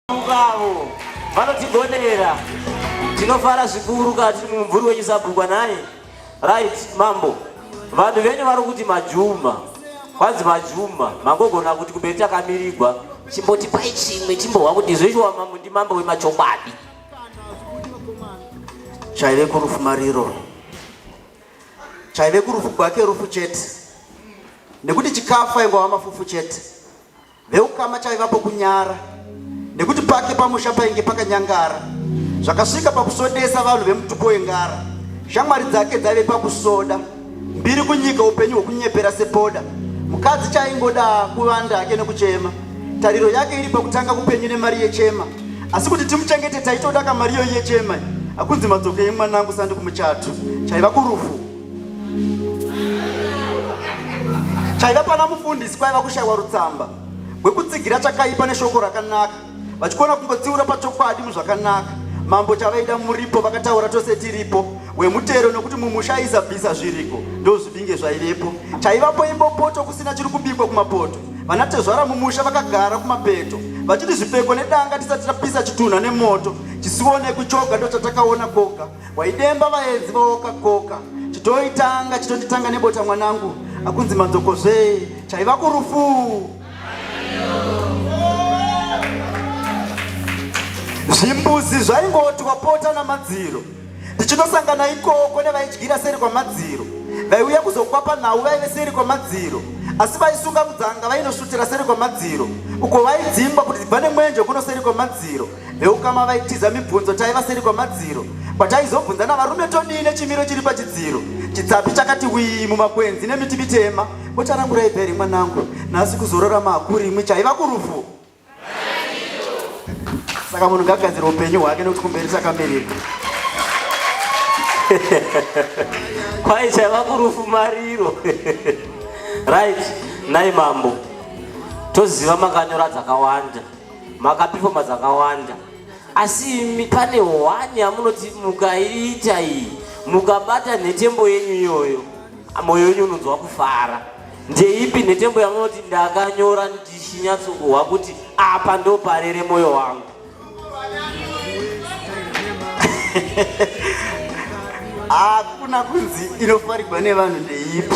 avo vanotigonera tinofara zvikuru kati mumvuri wenyu sabhukwa naye right mambo vanhu venyu vari kuti majuma kwanzi majuma mangogona kuti kumberi takamirigwa chimboti pai chimwe chimbohwa kuti zvechiwa mambo ndi mambo wemachokwadi chaive kurufumariro chaive kurufu gwake rufu chete nekuti chikafu aingova mafufu chete veukama chaivapo kunyara nekuti pake pamusha painge pakanyangara zvakasvika pakusodesa vanhu vemutupo wengara shamwari dzake dzaive pakusoda mbiri kunyika upenyu hwekunyepera sepoda mukadzi chaingoda kuvanda hake nekuchema tariro yake iri pakutanga kupenyu nemari yechema asi kuti timuchengete taitoda kamari iyoyi yechema akunzi madzoke yemwana angu sandi kumuchato chaiva kurufu chaiva pana mufundisi kwaiva kushaiwa rutsamba rwekutsigira chakaipa neshoko rakanaka vachikona kungotsiura pachokwadi muzvakanaka mambo chavaida muripo vakataura tose tiripo wemutero nokuti mumusha aizabvisa zviriko ndozvibinge zvaivepo chaivapo imbopoto kusina chiri kubikwa kumapoto Vanatezvara mumusha vakagara kumapeto vachiti zvipfeko nedanga tisati tapisa chitunha nemoto chisionekwi choga ndochatakaona koga waidemba vaenzi vaoka koka chitoitanga chitonditanga nebota mwanangu akunzi manzokozvee chaiva kurufu zvimbuzi zvaingoti wapota namadziro Ndichinosangana ikoko nevaidyira seri kwamadziro, vaiuya kuzokwapa nhau vaive seri kwamadziro, asi vaisunga mudzanga vainosvutira seri kwamadziro, uko vaidzingwa kuti dzibva nemwenje kuno seri kwamadziro. Veukama vaitiza mibvunzo taiva seri kwamadziro, kwataizobvunzana varume todii nechimiro chiri pachidziro. Chitsapi chakati wii mumakwenzi nemiti mitema. Botarangurai bheri mwanangu, nhasi kuzorora maakuri imwi chaiva kurufu. saka munhu ngagadzira upenyu hwake nekuti kumberi sakamirira kwai chaiva kurufumariro right nai mambo toziva makanyora dzakawanda makapifoma dzakawanda asi imi pane hwani yamunoti mukaiita iyi mukabata nhetembo yenyu iyoyo Moyo wenyu unonzwa kufara. Ndeipi nhetembo yamunoti ndakanyora ndichinyatsokuhwa kuti apa ndoparere moyo wangu? Hakuna kunzi inofarigwa nevanhu ndeipi.